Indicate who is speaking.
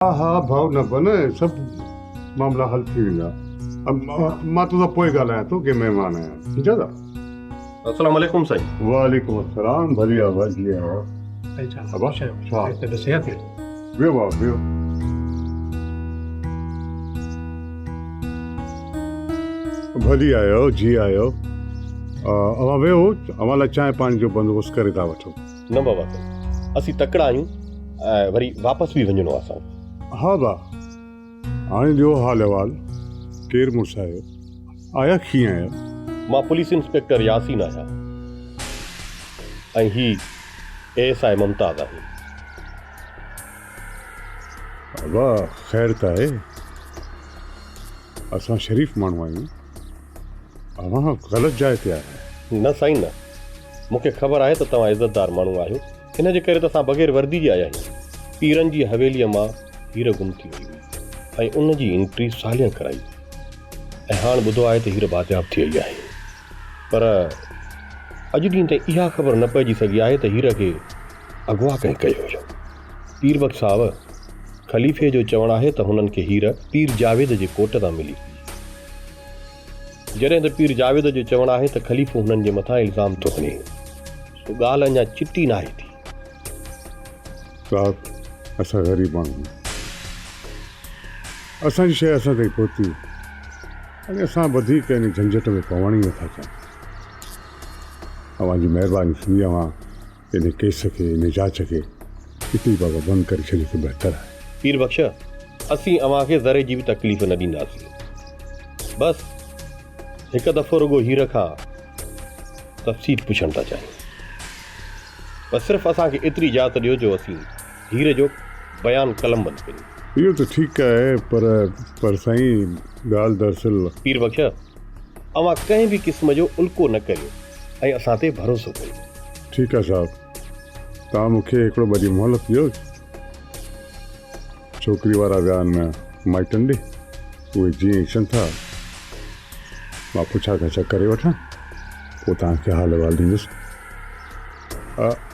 Speaker 1: ها ها ڀائو نه بنه سڀ معاملا حل ٿي ويندا مان تو سان پوء ڳالهايان ٿو ڪي مهمان آهيان ٺيڪ آهي السلام
Speaker 2: عليڪم سائين وعليڪم السلام
Speaker 1: ڀلي آواز جي آواز ابا ڇا ته صحت ويو وا ويو ڀلي آيو جي آيو اوهان ويو اوهان لاء چانهه پاڻي جو بندوبست ڪري ٿا وٺو نه بابا سائين
Speaker 2: اسين تڪڙا آهيون ۽ وري واپس به وڃڻو آهي اسان کي. ها با
Speaker 1: هاڻي ڏيو حال احوال ڪير مڙس آهيو آيا ڪيئن آهيو. مان پوليس
Speaker 2: انسپيڪٽر ياسين آهيان ۽ هي اي ايس آء ممتاز آهي.
Speaker 1: ابا خير ته آهي. اسان شريف ماڻهو آهيون اوهان غلط جاء تي آهيو. نه سائين نه
Speaker 2: مون کي خبر آهي ته توهان عزتدار ماڻهو آهيو ان جي ڪري ته اسان بغير وردي جي آيا آهيون پيرن جي حويليء مان هير گم ٿي وئي هئي ۽ ان جي انٽري سالين ڪرائي ۽ هاڻ ٻڌو آهي ته هير بازياب ٿي آئي آهي پر اڄ ڏينهن تائين اها خبر نه پئجي سگهي آهي ته هير کي اغوا ڪنهن ڪيو هيو؟ پير بخش صاحب، خليفي جو چوڻ آهي ته هنن کي هير پير جاويد جي ڪوٽ تان ملي هئي. جڏهن ته پير جاويد جو چوڻ آهي ته خليفو هنن جي مٿان الزام ٿو هڻي، سو ڳالهه اڃا چٽي ناهي ٿي. صاحب،
Speaker 1: اسان غريب ماڻهو آهيون. اسان جي شيء اسان تائين پهتي هئي ۽ اسان وڌيڪ ان جهنجهٽ ۾ پوڻ ئي نٿا چاهيون. اوهان جي مهرباني ٿيندي اوهان ان ڪيس کي ان جاچ کي اتي ئي بابا بند ڪري ڇڏي ته بهتر آهي. پير بخش
Speaker 2: اسين اوهان کي ذري جي به تڪليف نه ڏينداسين بس هڪ دفعو رڳو هير کان تفصيل پڇڻ ٿا چاهيون بس صرف اسان کي ايتري اجازت ڏيو جو اسين هير جو بيان قلم بند ڪريون. اهو ته ٺيڪ آهي
Speaker 1: پر پر سائين ڳالهه دراصل. پير بخش
Speaker 2: اوهان ڪنهن به قسم جو الڪو نه ڪريو ۽ اسان تي ڀروسو ڪريو. ٺيڪ آهي صاحب
Speaker 1: توهان مون کي هڪڙو ٻه ڏينهن مهلت ڏيو. ڇوڪري وارا ويا آهن مائٽن ڏي اهي جيئن اچن ٿا مان پڇا ڳڇا ڪري وٺان پوء توهان کي حال احوال ڏيندس.